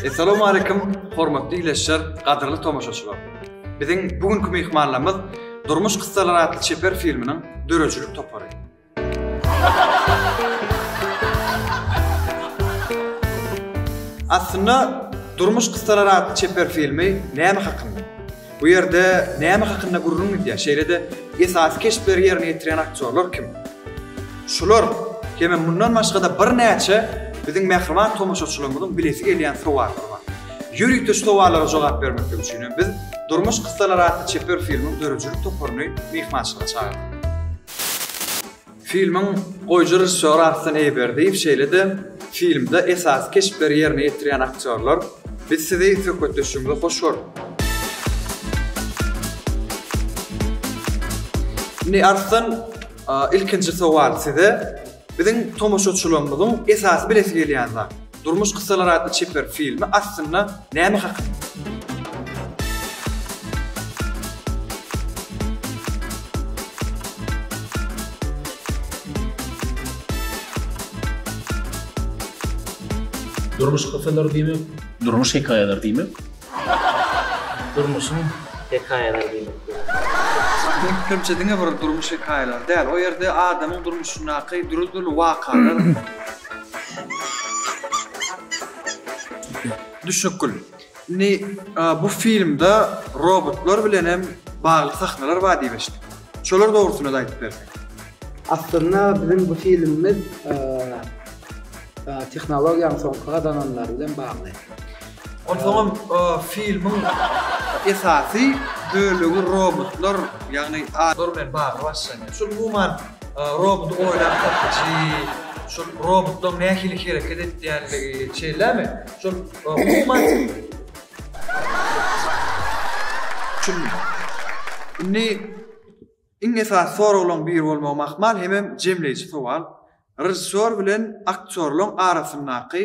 Essalamu aleýkum, hormatly ileçiler, gadyrly tomaşaçylar! Biziň bu günki myhmanlarymyz Durmuş kyssalary atly çeper filminiň döredijilik topary. Aslynda Durmuş kyssalary atly çeper filmi näme hakynda? Bu ýerde näme hakynda gürrüň gidýär? Şeýle-de, esasy keşpleri ýerine ýetirýän aktýorlar kim? Şular hem-ä mundan başga-da birnäçe biziň mähriban tomaşaçylarymyzyň bilesi gelýän sowallary bar. Ýörite şu sowallara jogap bermeklik üçin hem biz Durmuş kyssalary atly çeper filmiň döredijilik toparyny myhmançylyga çagyrdyk. Filmiň goýujy režissýory Arslan Eýberdiýew şeýle-de filmde esasy keşpleri ýerine ýetirýän aktýorlar Biz sizi söhbetdeşligimize hoş gördük. Indi Arslan ilkinji sowal size biziň tomaşaçylarymyzyň esasy bilesi gelýän zat. Durmuş kyssalary atly çeper filmi aslynda näme hakynda? Durmuş kyssalary diýmek, durmuş hekaýalary diýmek. Durmuşyň hekaýalary diýmek gerek. Bu köplenç diňe bir durmuş hekaýalary däl, o ýerde adamyň durmuşyndaky dürli-dürli wakalar. Düşnükgül. Indi bu filmde robotlar bilen hem bagly sahnalar bar diýip eşitdik. Şolar dogrusynda-da aýdyp berseň. Aslynda biziň bu filmimiz tehnologiýanyň soňky gazananlary bilen bagly. Onsoňam filmiň esasy bölegi robotlar, ýagny adamlar bilen bagly başlanýar. Şol umuman roboty oýlap tapyjy, şol robotlaryň nähili hereket etýänligi, şeýlemi? Şol umuman Şul indi iň esasy soraglaryň biri bolmagy mahmal hemem jemleýji sowal, režissýor bilen aktýorlaryň arasyndaky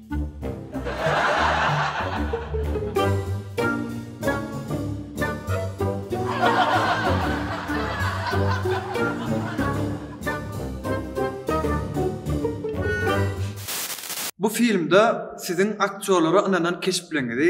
Bu filmde siziň aktýorlara ynanan keşpleňizi,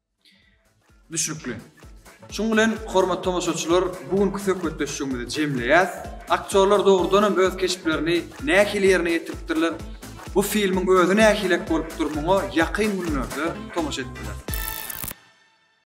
Düşnükli. Şunuň bilen, hormatly tomaşaçylar, bu günki söhbetdeşligimizi jemleýäs. Aktýorlar dogrudan hem öz keşplerini nähili ýerine ýetiripdirler, bu filmiň özi nähilek bolupdyr, muňa ýakyn günlerde tomaşa edip bilersiňiz.